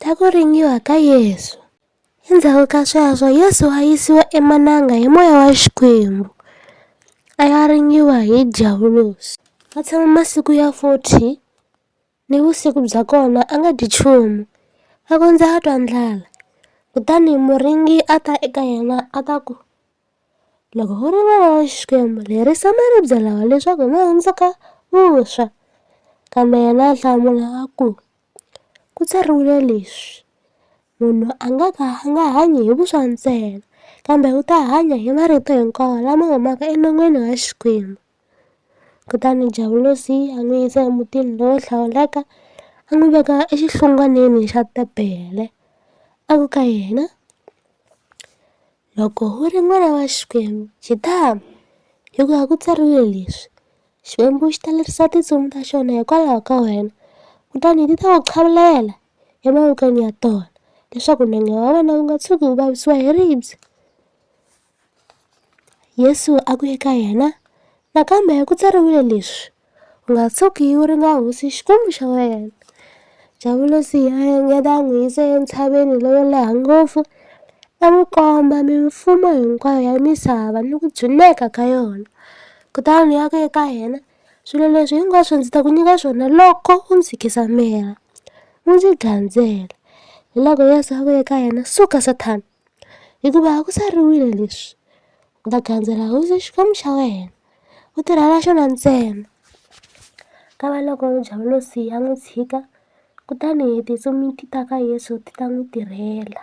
Ta ku ringiwa ka Yesu. Endzhaku ka sweswo Yesu a yisiwa emananga hi moya wa Xikwembu, a ya ringiwa hi Dyavulosi. A tshama masiku ya 40 ni vusiku bya kona a nga dyi nchumu, a kondza a twa ndlala. Kutani muringi a ta eka yena a ta ku, Loko u ri vana wa Xikwembu, lerisa maribye lawa leswaku ma hundzuka vuswa. Kambe yena a hlamula a ku, Ku tsariwile leswi, Munhu a nga ka a nga hanyi hi vuswa ntsena, kambe u ta hanya hi marito hinkwawo lama humaka enon'wini wa Xikwembu. Kutani Javolosi a n'wi yisa emutini lowo hlawuleka, a n'wi veka exihlungwaneni xa tebele, a ku ka yena, Loko u ri n'wana wa Xikwembu, jitama! Hikuva ku tsariwile leswi, Xikwembu xi ta lerisa tintsumi ta xona hikwalaho ka wena, kutani ti ta ku chavelela emavokweni ya tona, leswaku nenge wa wena wu nga tshuki wu vavisiwa hi ribye. Yesu a ku eka yena, Nakambe ku tsariwile leswi, u nga tshuki u ri na hosi Xikwembu xa wena. Javulasi a engeta a n'wi yisa entshaveni lowo leha ngopfu a n'wi komba mimfumo hinkwayo ya misava ni ku dzuneka ka yona kutani a ku eka yena swilo leswi hinkwaswo ndzi ta ku nyika swona loko u ndzi khisamela u ndzi gandzela hiloko Yeso a ku eka yena suka Sathana hikuva a ku tsariwile leswi. U ta gandzela hosi Xikwembu xa wena u tirhela xona ntsena ka va loko javolosi a n'wi tshika kutani hi tintsumi ti ta ka Yeso ti ta n'wi tirhela.